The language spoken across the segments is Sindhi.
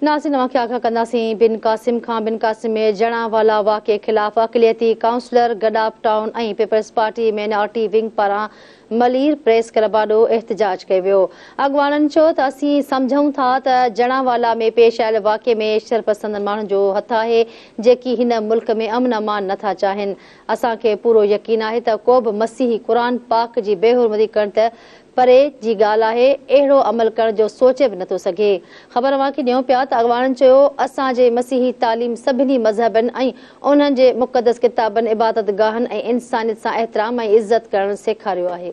ناظرين اوهان کي آگاهه ڪنداسين بن قاسم کان بن قاسم ۾ جڻا والا واقعي خلاف اقليتي councillor Gadap town ۽ Peoples Party minority wing پاران ملير پريس ڪلب آڏو احتجاج ڪيو ويو اڳواڻن چيو ته اسين سمجهون ٿا ته جڻا والا ۾ پيش آيل واقعي ۾ شرپسندن ماڻهن جو هٿ آهي جيڪي هن ملڪ ۾ امن امان نٿا چاهين اسان کي پورو يقين آهي ته ڪوبه مسيحي قرآن پاڪ جي بي حرمتي ڪرڻ ته پري جي ڳالهه آهي، اهڙو عمل ڪرڻ جو سوچي به نٿو سگهي. خبر اوهان کي ڏيون پيا ته اڳواڻن چيو، اسان جي مسيحي تعليم سڀني مذهبن ۽ انهن جي مقدس ڪتابن، عبادت گاهن ۽ انسانيت سان احترام ۽ عزت ڪرڻ سيکاريو آهي.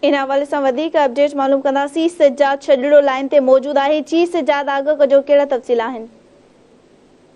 ان حوالي سان وڌيڪ اپڊيٽ معلوم ڪنداسين. سجاد شڄڙو لائين تي موجود آهي. جي سجاد آگهه ڪجو ڪهڙا تفصيل آهن؟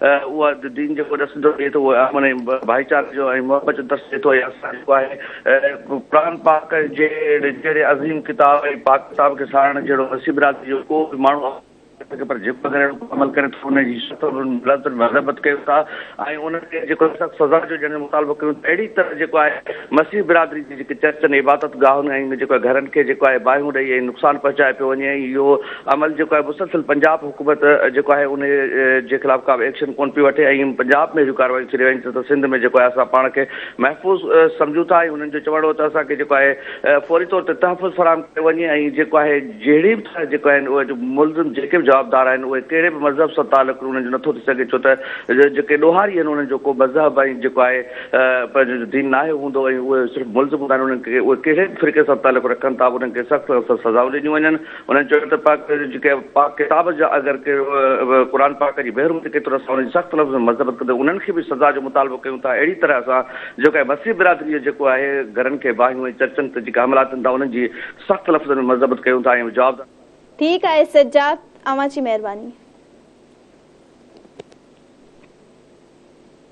اها دين جيڪو درس ڏيندو ڏئي ٿو اهو امن ۽ ڀائيچاري جو ۽ محبت جو درس ڏئي ٿو ۽ اسان جيڪو آهي قرآن پاڪ جي جهڙي عظيم ڪتاب ۽ پاڪ ڪتاب کي ساراهڻ جهڙو نصيب برادري جو ڪو به ماڻهو اوهان کي نٿو پر جيڪو اگر اهڙو ڪو عمل ڪري ٿو ان جي سخت لعنت مذبت ڪيون ٿا ۽ ان کي جيڪو سخت سزا جو جنهن جو مطالبو ڪيون ٿا اهڙي طرح جيڪو آهي مسيح برادري جي جيڪي چرچن عبادت گاهن ۽ جيڪو گهرن کي جيڪو آهي باهيون ڏئي ۽ نقصان پهچائي پيو وڃي ۽ اهو عمل جيڪو آهي مسلسل پنجاب حڪومت جيڪو آهي ان جي خلاف ڪا به ايڪشن ڪون پئي وٺي ۽ پنجاب ۾ اهڙيون ڪاروايون ٿي رهيون آهن ته سنڌ ۾ جيڪو آهي اسان پاڻ کي محفوظ سمجهون ٿا ۽ انهن جو چوڻ هو ته اسان کي جيڪو آهي فوري طور تي تحفظ فراهم ڪيو وڃي ۽ جيڪو آهي جهڙي به طرح جيڪو آهن اهي جو ملزم جيڪي به جوابدار آهن اهي ڪهڙي به مذهب سان تعلق انهن جو نٿو ٿي سگهي ڇو ته جيڪي ڏوهاري آهن انهن جو ڪو مذهب ۽ جيڪو آهي پنهنجو جو دين ناهي هوندو ۽ اهي صرف ملزم هوندا آهن انهن کي اهي ڪهڙي به فرقي سان تعلق رکن ٿا انهن کي سخت سان سخت سزائون ڏنيون وڃن انهن چيو ته پاڪ جيڪي پاڪ ڪتاب جا اگر ڪي قرآن پاڪ جي بحر ۾ ٿي ڪيتو ته اسان ان جي سخت لفظن ۾ مذمت ڪندي انهن کي به سزا جو مطالبو ڪيون ٿا اهڙي طرح اسان جيڪو آهي مسيح برادري جو جيڪو آهي گهرن کي باهيون ۽ چرچن تي جيڪي حملا ٿين ٿا انهن جي سخت لفظن ۾ مذمت ڪيون ٿا ۽ جوابدار ٺيڪ آهي سجاد اوهان جي مهرباني.